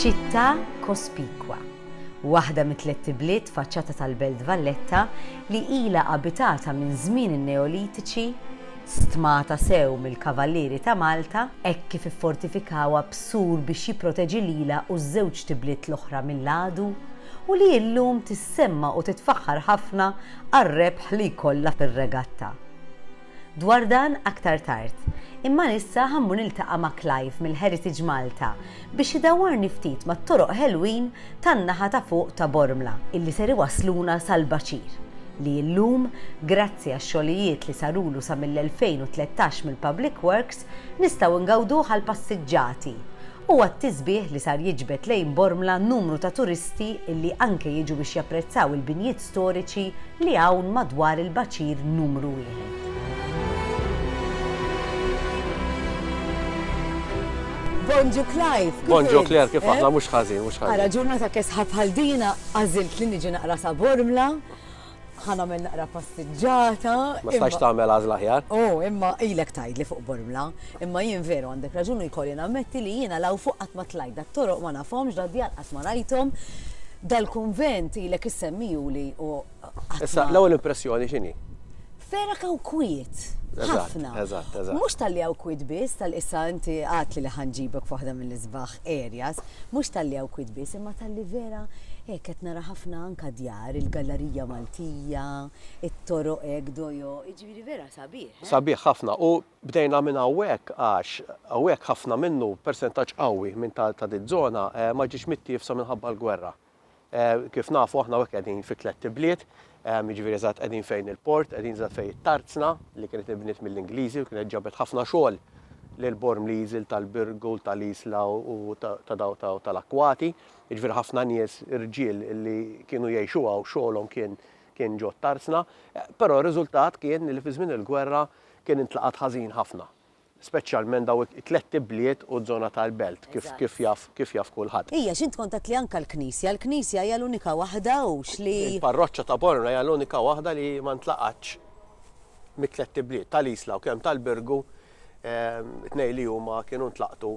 Ċittà kospikwa, waħda mit-tlett ibliet faċċata tal-Belt Valletta li ilha abitata minn żmien in-Neolitiċi, stmata sew mill-Kavallieri ta' Malta hekk kif iffortifikawha b'sur biex jipproteġi lilha u ż-żewġt ibliet l-oħra mill-għadu u li illum tissemma u titfaħħar ħafna għar-rebħ li jkollha fir-regatta. Dwar dan aktar tard. Imma issa ħammur niltaqa' ma' Clive mill-Heritage Malta biex idawwarni ftit mat-toroq ħelwin tan-naħa ta' fuq ta' Bormla illi ser iwassluna sal-Baċir li illum, grazzi għax-xogħlijiet li sarulu sa mill-2013 mill-Public Works, nistgħu ngawduh għall-passiġġati Huwa t-tisbiħ li sar jiġbed lejn Bormla numru ta' turisti li anke jiġu biex japprezzaw il-binjiet storiċi li hawn madwar il-baċir numru wieħed. Bonġu Clive! Bonġu Claire, kif aħna? Mhux ħażin, mhux ħażin. Ara, ġurnata kesħa bħal dina għażilt li niġi naqra sa Bormla. Ħa nagħmel naqra passiġġata. Ma stajx tagħmel għażla aħjar. Oh, imma ilek tgħidli fuq Bormla. Imma jien veru għandek raġun u jkolli nammetti li jiena law fuq qatt ma tlajt dat-toroq ma nafhomx da djal qatt ma rajthom. Dal-kunvent ilek issemmijuli u Issa l-ewwel impressjoni x'inhi? Vera kaw kwiet. Ħafna. Eżatt, eżatt. Mhux tal-li hawn kwiet biss, tal-issa inti għadtli li ħanġibek f'waħda mill-isbaħ areas, mhux talli hawn kwiet biss imma talli vera hekk qed nara ħafna anke djar, il-gallarija Maltija, it-toroq hekk dojo, jiġifieri vera sabiħ, eh? Sabiħ ħafna u bdejna minn hawnhekk għax hawnhekk ħafna minnu, persentaġġ qawwi minn ta' diż-żona ma ġiex mittiefsa minħabba l-gwerra. Kif nafu aħna hekk qegħdin fi tlett ibliet, jiġifieri eżatt qegħdin fejn il-port, qegħdin eżatt fejn it-tarzna li kienet inbniet mill-Ingliżi u kienet ġabet ħafna xogħol lil Bormliżi, tal-Birgu, tal-Isla u ta' daw tal-Akkwati. Jiġifieri ħafna nies irġiel li kienu jgħixu hawn xogħolhom kien kien ġo t-tarzna, però r-riżultat kien li fi żmien il-gwerra kien intlaqat ħażin ħafna. speċjalment dawn it-tlett ibliet u z-zona tal-belt kif jaf kif jaf kulħadd. Ija, x'int kont għedt li anka l-knisja, l-knisja hija l-unika waħda hux li. Il-parroċċa ta' Bormla hija l-unika waħda li ma ntlaqgħatx mit-tlett ibliet, tal-Isla u kemm tal-Birgu, tnejn li huma kienu ntlaqtu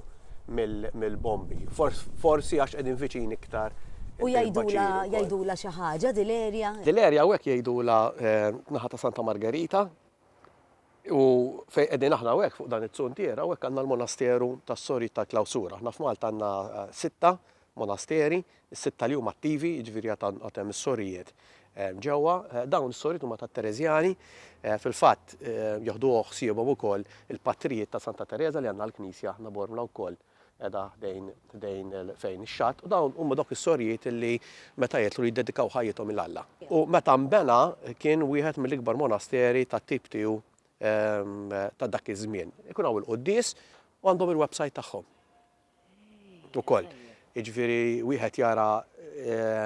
mill-bombi. Forsi għax qegħdin viċin iktar il-baċiri wkoll. U jgħidulha xi ħaġa dil-erja? Dil-erja hawnhekk jgħidulha naħa ta' Santa Margerita, U fejn qegħdin aħna hawnhekk fuq dan iz-zuntier, hawnhekk għandna l-monasteru tas-Sorijiet tal-Klawsura. Aħna f'Malta għandna sitta monasteri, is-sitta li huma attivi, jiġifieri għad għan- għad hemm is-sorijiet eh, ġewwa. Eh, Dawn is-sorijiet huma tat-Tereżjani, eh, fil-fatt eh, joħduh ħsiebhom ukoll il-patrijiet ta' Santa Tereża li għandna l-knisja aħna Bormla wkoll. qiegħda ħdejn ħdejn fejn ix-xatt, u dawn huma dawk is-sorjiet illi meta jidħlu jiddedikaw ħajjithom lil Alla. U meta nbena kien wieħed mill-ikbar monasteri tat-tip tiegħu ta' dak iż-żmien. Ikun hawn il-quddies u għandhom il-website tagħhom ukoll. Jiġifieri wieħed jara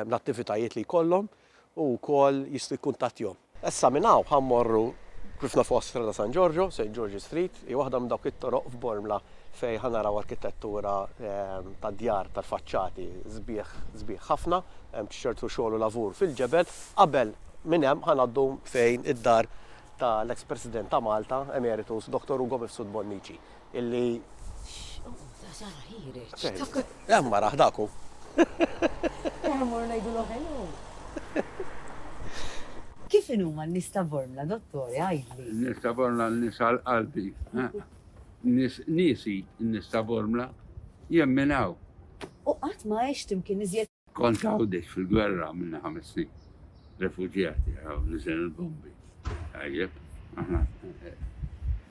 l-attivitajiet li jkollhom. Hu wkoll jista' jikkuntattjhom. Issa minn hawn ħa mmorru kif nafuha Strada San Giorgio, St. George's Street, hi waħda minn dawk it-toroq f'Bormla fejn ħa naraw arkitettura tad-djar tal-faċċati sbieħ sbieħ ħafna, hemm ċertu xogħol u lavur fil-ġebel. Qabel minn hemm ħa ngħaddu fejn id-dar tal-eks President ta' Malta emeritus Dottor Ugo Mifsud Bonnici. Illi. X'għodda sara ħireġ. Hemm maraħ dak hu. Eħe mor ngħidulu hello. Kif inhuma n-nies ta' Bormla, Dottore, għidli? N-nies ta' Bormla n-nies għal qalbi. Nies niesi n-nies ta' Bormla jemminaw. U qatt ma għext imkien iżjed Kont Għawdex fil-gwerra għamilna ħames snin. Refuġjati għaw niżel il-bombi. Għajjeb, aħna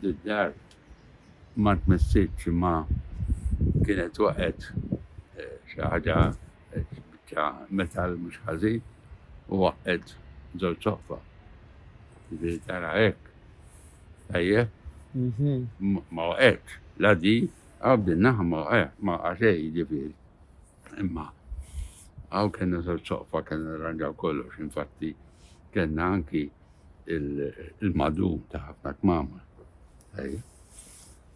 d-dar ma tmessitx ma kienet waqgħet eh, xi ħaġa eh, biċċa metal mhux ħażin u waqgħet żewġ soffa. Ġifieri tara hekk. Għajjeb, mhm. ma waqgħetx. La di, għabdinnaħ ma waqgħet, ma għaxej ġifieri. Imma għaw kena soqfa kena rangaw kollox, infatti kena anki il-madu ta' ħafna kmama.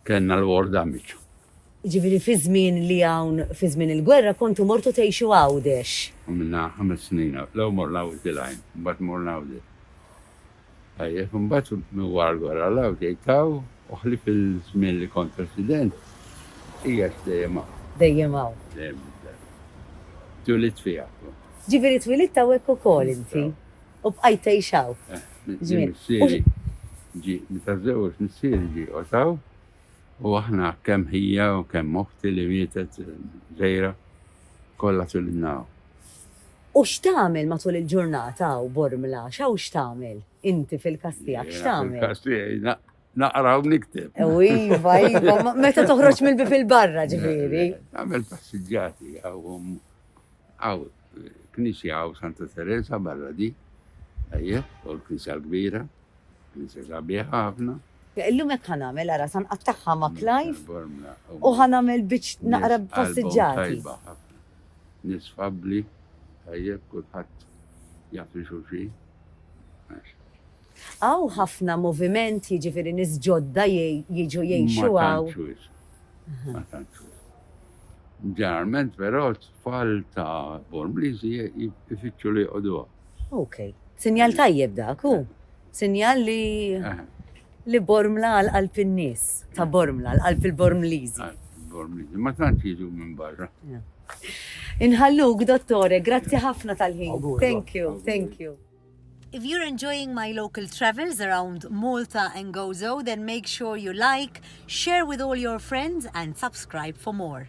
Kena l-orda miċu. Ġifiri fi żmien li hawn fi żmien il-gwerra kontu mortu tgħixu Għawdex. Minna ħames snin, l-ewwel morna Wiċċ il-Għajn, mbagħad morna Għawdex. Tajjeb, imbagħad miwarwar għal hawn tgħid hawn u ħlief iż-żmien li kont President, qiegħed dejjem hawn. Dejjem hawn. Dejjem hawn. Twielidt fiha. Jiġifieri twielidt hawnhekk ukoll inti u bqajt tgħix hawn. Minn missieri ġie, meta żewweġ missieri ġie joqgħod hawn u aħna kemm ħija u kemm oħti li mietet żgħira kollha twilidna hawn. U x'tagħmel matul il-ġurnata hawn Bormla? X'hawn x'tagħmel? Inti fil-każ tiegħek x'tagħmel? Jiena fil-każ tiegħi naqra u nikteb. U iva, iva, meta toħroġ mill-bieb il-barra ġifieri. Nagħmel passiġġati hawn hawn knisja hawn Santa Teresa barra di, ejjeh, u l-knisja l-kbira. Inti sabiħ ħafna. Illum hekk ħa nagħmel, ara sa nqattagħha ma' Clive u ħa nagħmel biċ naqra passiġġati. Nies fabbli, tajjeb kulħadd jaf li xulxin. Hawn ħafna moviment jiġifieri nies ġodda jiġu jgħixu hawn. Ma tantx wisq. Ġeneralment però Tfal ta' Born Bliżi jfittxu li joqogħduha. Ok. Sinjal tajjeb dak, hu? Sinjal li li Bormla għal qalb in-nies ta' Bormla, għal qalb il-Bormliżi. Għal qalb il-Bormliżi. Ma tantx jiġu minn barra. Inħalluk, Dottore, grazzi ħafna tal-ħin. Thank you, thank you. If you're enjoying my local travels around Malta and Gozo, then make sure you like, share with all your friends and subscribe for more.